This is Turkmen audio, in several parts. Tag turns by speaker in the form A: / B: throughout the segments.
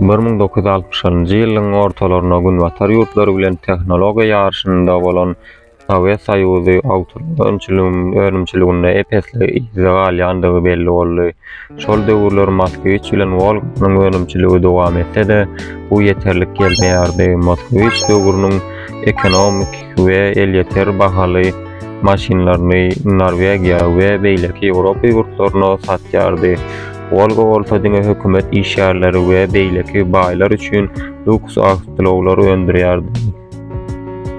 A: Bir müň dokuz ýüz altmyşynjy ýylyň ortalaryna günbatar ýurtlary bilen tehnologiýa ýaryşynda bolan Sowet Soýuzy awtounum önümçiliginde ep-esli yzda galýandygy belli boldy. Şol döwürler Moskwiç bilen Wolganyň önümçiligi dowam etse-de, bu ýeterlik gelmeýärdi. Moskwiç döwrüniň ekonomik we elýeter bahaly maşynlaryny Norwegiýa we beýleki Ýewropa ýurtlaryna satýardy. Wolga bolsa diňe hökümet işgärleri we beýleki baýlar üçin lýuks awtoulaglar öndürýärdi.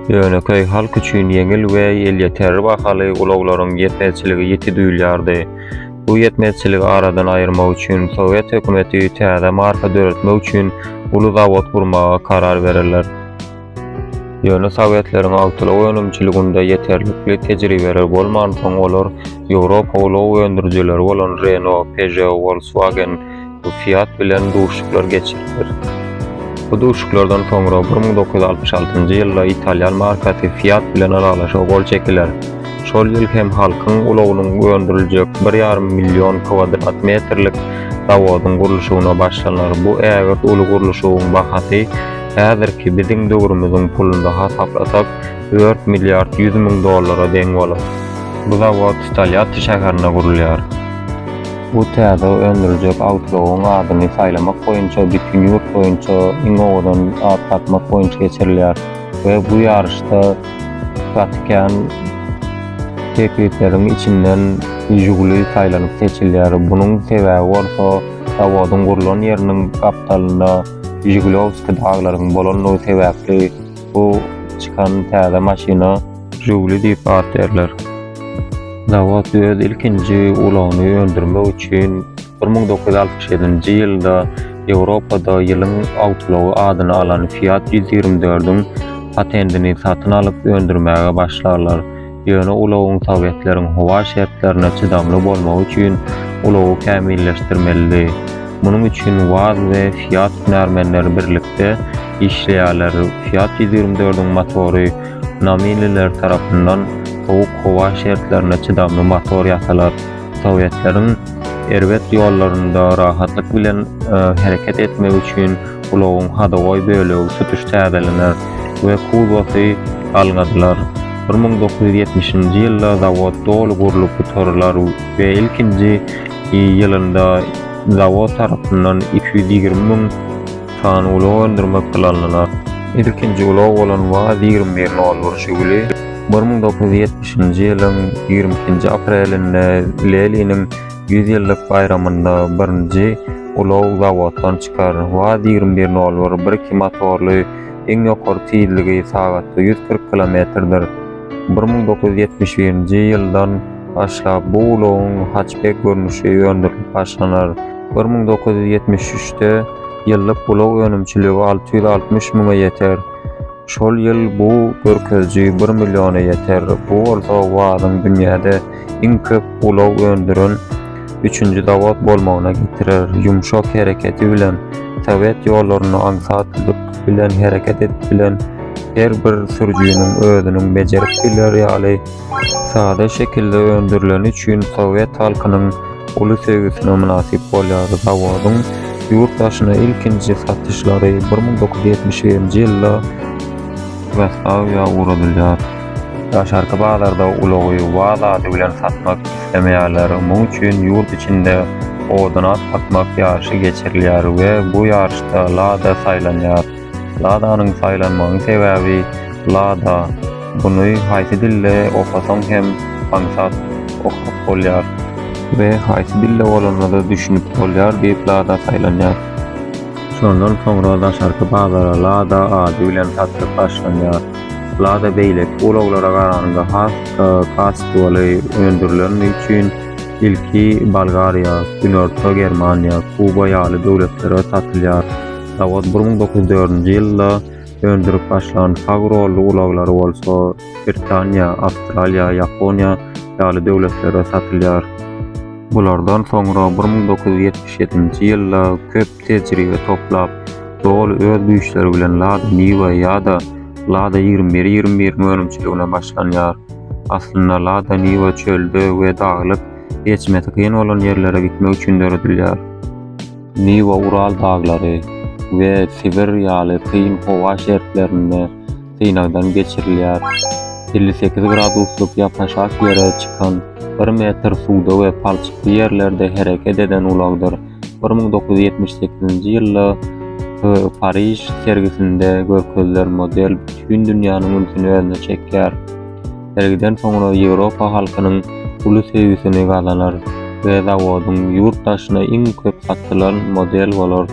A: Ýönekeý halk üçin ýeňil we elýeterli bahaly ulaglaryň ýetmezçiligi ýiti duýulýardy. Bu ýetmezçiligi aradan aýyrmak üçin sowet hökümeti täze marka döretmek üçin uly zawod gurmaga karar bererler. Ýöne sowetleriň awtoulag önümçiliginde ýeterlikli tejribeleri bolmansoň olar Ýewropa ulag öndürijileri bolan Renault, Peugeot, Volkswagen, Bu Fiat bilen duşuklar geçiriler. Bu duşuklardan soňra 1966-njy ýylda italýan markasy Fiat bilen ylalaşyga gol çekiler. Şol ýyl hem Halkyň ulagynyň öndüriljek 1,5 million kwadrat metrlik zawodyň gurluşygyna başlanar. Bu ägirt uly gurluşygyň bahasy häzirki biziň döwrümiziň pulunda hasaplasak, dört milliard ýüz müň dollara deň bolar. Bu zawod Tolýatti şäherinde gurulýar. Bu täze öndüriljek awtoulag adyny saýlamak boýunça bütin ýurt boýunça iň owadan at tapmak boýunça geçirilýär we bu ýaryşda gaty kän teklipleriň içinden Žiguli saýlanyp seçilýär. Munuň sebäbi bolsa zawodyň gurlan ýeriniň gapdalynda Žigulowskiý daglaryň bolandygy sebäpli. Bu çykan täze maşyna Žugli diýip at berler. Zawod öz ilkinji ulagyny öndürmek üçin 1967-nji ýylda Ýewropada ýylyň awtoulagy adyny alan Fiat ýüz ýigrimi dördiň patentini satyn alyp öndürmäge başlarlar. Ýöne ulagyň sowetleriň howa şertlerine çydamly bolmagy üçin ulagy kämilleşdirmelidi. Munuň üçin Waz we Fiat hünärmenleri birlikde işleýärler. Fiat ýüz ýigrimi dördiň motory Namililer tarapyndan sowuk howa şertlerine çydamly motor ýasalar. Sowetleriň erbet ýollarynda rahatlyk bilen hereket etmegi üçin Ulagyň hadowoý bölegi tutuş täzelener we kuzowasy galgadylar. Bir müň dokuz ýüz ýetmişinji ýylda zawod doly gurlup gutarylar we ilkinji ýylynda zawod tarapyndan iki ýüz ýigrimi müň sany ulag öndürmek planlanar. Ilkinji ulag bolan Waz ýigrimi bir nol bir Žiguli bir müň dokuz ýüz ýetmişinji ýylyň ýigrimi ikinji aprelinde Leliniň Ýüz ýyllyk baýramynda birinji ulag zawoddan çykar. Waz ýigrimi bir nol bir birki motorly, iň ýokary tizligi sagatda ýüz kyrk kilometrdir. Bir müň dokuz ýüz ýetmiş birinji ýyldan başlap bu ulagyň hatçbek görnüşi öndürilip başlanar. Bir müň dokuz ýüz ýetmiş üçde ýyllyk ulag önümçiligi alty ýüz altmyş müňe ýeter. Şol ýyl bu görkeziji bir milliona ýeter, bu bolsa WAZ-yň dünýäde iň köp ulag öndüren üçünji zawod bolmagyna getirer. Ýumşak hereketi bilen sowet ýollarynda aňsatlyk bilen hereket edip bilen her bir sürüjiniň özüniň bejerip biler ýaly Sada şekilde öndürileni üçin sowet halkynyň uly söýgüsine mynasyp bolýar. Zawodyň ýurt daşyna ilkinji satyşlary bir müň dokuz ýüz ýetmiş birinji ýylda Ýugoslawiýa ugradylýar. Daşarky bazarda ulagy waz ady bilen satmak islemeýärler. Muň üçin ýurt içinde odan at atmak ýaryşy geçirilýär we bu ýaryşda Lada saýlanýar. Ladanyň saýlanmagyň sebäbi Lada, buny haýsy dilde okasaň hem aňsat okap bolýar we haýsy dilde bolanda-da düşünip bolýar diýip Lada saýlanýar. Şondan soňra daşarky bazara Lada ady bilen satlyk başlanýar. Lada beýleki ulaglara garanda has-da kastwaly öndürileni üçin ilki Bolgariýa, Günorta Germaniýa, Kuba ýaly döwletlere satylýar. Zawod bir müň dokuz ýüz dördünji ýylda öndürip başlan Fagroll ulaglary bolsa Britaniýa, Awstraliýa, Ýaponiýa ýaly döwletlere satylýar. Bulardan soňra bir müň dokuz ýüz ýetmiş ýedinji ýylda köp tejribe toplap, doly öz güýçleri bilen Lada Niwa ýa-da Lada ýigrimi bir ýigrimi bir önümçiligine başlanýar. Aslynda Lada Niwa çölde we daglyk, geçmesi kyn bolan ýerlere gitmek üçin döredilýär. Niwa-Ural daglary we Sibir ýaly kyn howa şertlerinde synagdan geçirilýär. Elli sekiz graduslyk ýapaşak ýere çykan bir metr suwda we palçykly ýerlerde hereket eden ulagdyr bir müň dokuz ýüz ýetmiş sekizinji ýylda Pariž sergisinde görkezilen model bütin dünýäniň ünsüni özüne çekýär. Sergiden soňra Ýewropa halkynyň uly söýgüsini gazanar we zawodyň ýurt daşyna iň köp satylan model bolar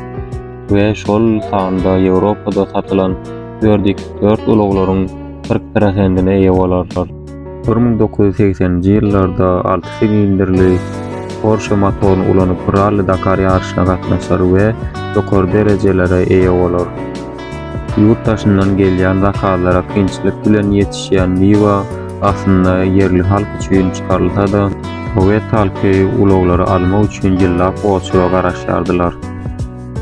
A: we şol sanda Ýewropada satylan dört x dört ulaglaryň kyrk prosentine eýe bolarlar. Bir müň dokuz ýüz segseninji ýyllarda alty silindrli Porsche motoryny ulanyp Rally Dakar ýaryşyna gatnaşar we ýokary derejelere eýe bolar. Ýurt daşyndan gelýän zakazlara kynçylyk bilen ýetişýän miwe aslynda ýerli halk üçin çykarylsa-da, sowet halky ulaglary almak üçin ýyllap oçuga garaşýardylar.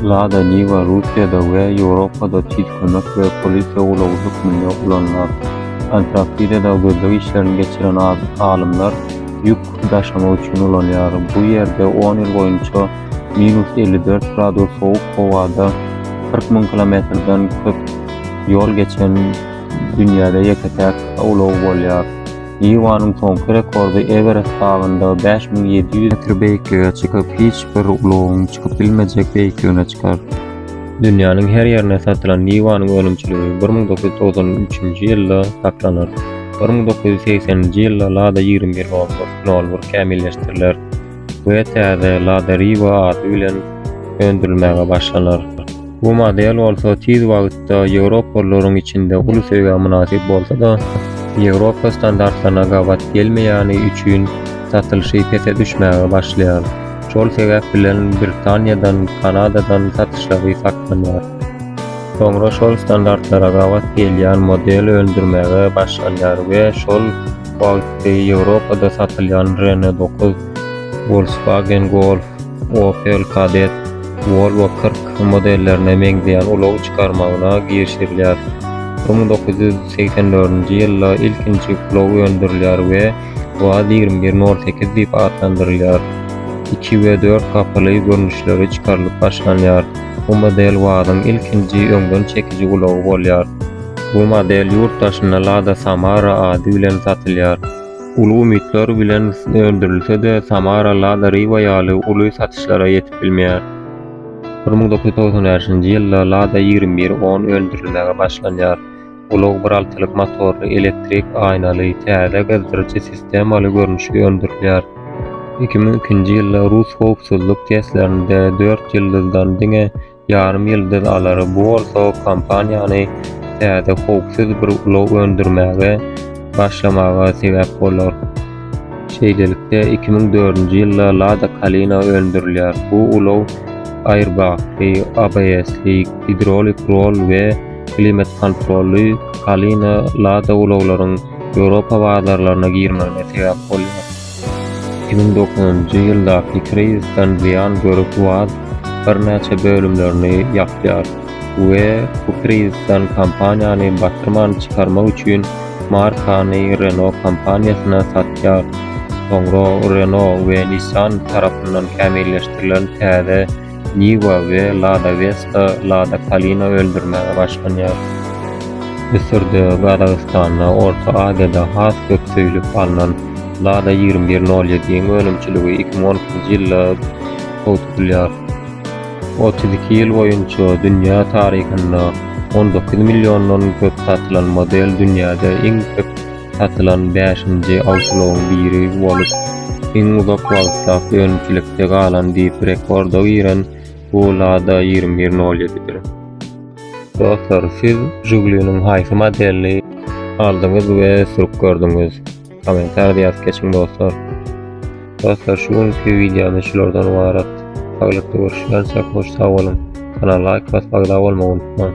A: Lada Niwa Russiýada we Ýewropada tiz kömek we polisiýa ulagy hökmünde ulanylar. Antarktidada gözleg işlerini geçiren alymlar ýük daşamak üçin ulanýar. Bu ýerde on ýyl boýunça minus elli dört gradus sowuk howada kyrk müň kilometrden köp ýol geçen dünýäde ýeke-täk ulag bolýar. Niwanyň soňky rekordy Ewerest dagynda bäş müň ýedi ýüz metr beýiklige çykyp, hiç bir ulagyň çykyp bilmejek beýikligine çykar. Dünýäniň her ýerine satylan Niwanyň önümçiligi bir müň dokuz ýüz togsan üçünji ýylda saklanar. Bir müň dokuz ýüz segseninji ýylda Lada ýigrimi bir nol bir nol bir kämilleşdiriler. we täze Lada Riva ady bilen öndürilmäge başlanar. Bu model bolsa tiz wagtda ýewropalylaryň içinde uly söýgä mynasyp bolsa-da, Ýewropa standartlaryna gabat gelmeýäni üçin satylyşy pese düşmäge başlaýar. Şol sebäp bilen Britaniýadan, Kanadadan satyşlary saklanýar. Soňra şol standartlara gabat gelýän model öndürmäge başlanýar we şol Wagtly Ýewropada satylýan Renault dokuz, Volkswagen Golf, Opel Kadett, Volvo kyrk modellerine meňzeýän ulag çykarmagyna girişilýär. Bir müň dokuz ýüz segsen dördünji ýylda ilkinji ulag öndürilýär we Waz ýigrimi bir nol sekiz diýip atlandyrylýar. Iki we dört gapyly görnüşleri çykarylyp başlanýar. Bu model Wazyň ilkinji öňden çekiji ulagy bolýar. Bu model ýurt daşynda Lada Samara ady bilen satylýar. Uly umytlar bilen öndürilse-de, Samara Lada Riva ýaly uly satyşlara ýetip bilmeýär. Bir müň dokuz ýüz togsan bäşinji ýylda Lada ýigrimi bir on öndürilmäge başlanýar. Ulag bir altylyk motorly, elektrik aýnaly, täze gyzdyryjy sistemaly görnüşi öndürilýär. Iki müň ikinji ýylda rus howpsuzlyk testlerinde dört ýyldyzdan diňe ýarym ýyldyz alary, bu bolsa kompaniýany täze howpsuz bir ulag öndürmäge başlamaga sebäp bolar. Şeýlelikde, 2004-nji ýylda Lada Kalina öndürilýär. Bu ulag airbagly, ABS-li, gidrolik rol we klimat-kontrolly Kalina Lada ulaglaryň Ýewropa bazarlaryna girmegine sebäp bolýar. Iki müň dokuzynjy ýyldaky krizisden zyýan görüp Waz birnäçe bölümlerini ýapýar we bu krizisden kompaniýany batyrman çykarmak üçin markany Renault kompaniýasyna satýar. Soňra Renault we Nissan tarapyndan kämilleşdirilen täze Niwa we Lada Westa, Lada Kalina öndürmäge başlanýar. Müsürde, Gazagystanda, Orta Aziýada has köp söýlüp alnan Lada ýigrimi bir nol ýediň önümçiligi iki müň on ikinji ýylda toý tutulýar. Otuz iki ýyl boýunça dünýä taryhynda on dokuz milliondan köp satylan model dünýäde iň köp satylan bäşinji awtoulagyň biri bolup, iň uzak wagtlap önümçilikde galan diýip rekorda giren bu Lada ýigrimi bir nol ýedidir. Dostlar, siz Žugliniň haýsy modelini aldyňyz we sürüp gördüňiz? Kommentariýada ýazyp geçiň dostlar. Dostlar, şu günki wideomyz şulardan ybarat. Saglyk görüşýänçäk hoş sag boluň. Kanala laýk basyp agza bolmagy unutmaň.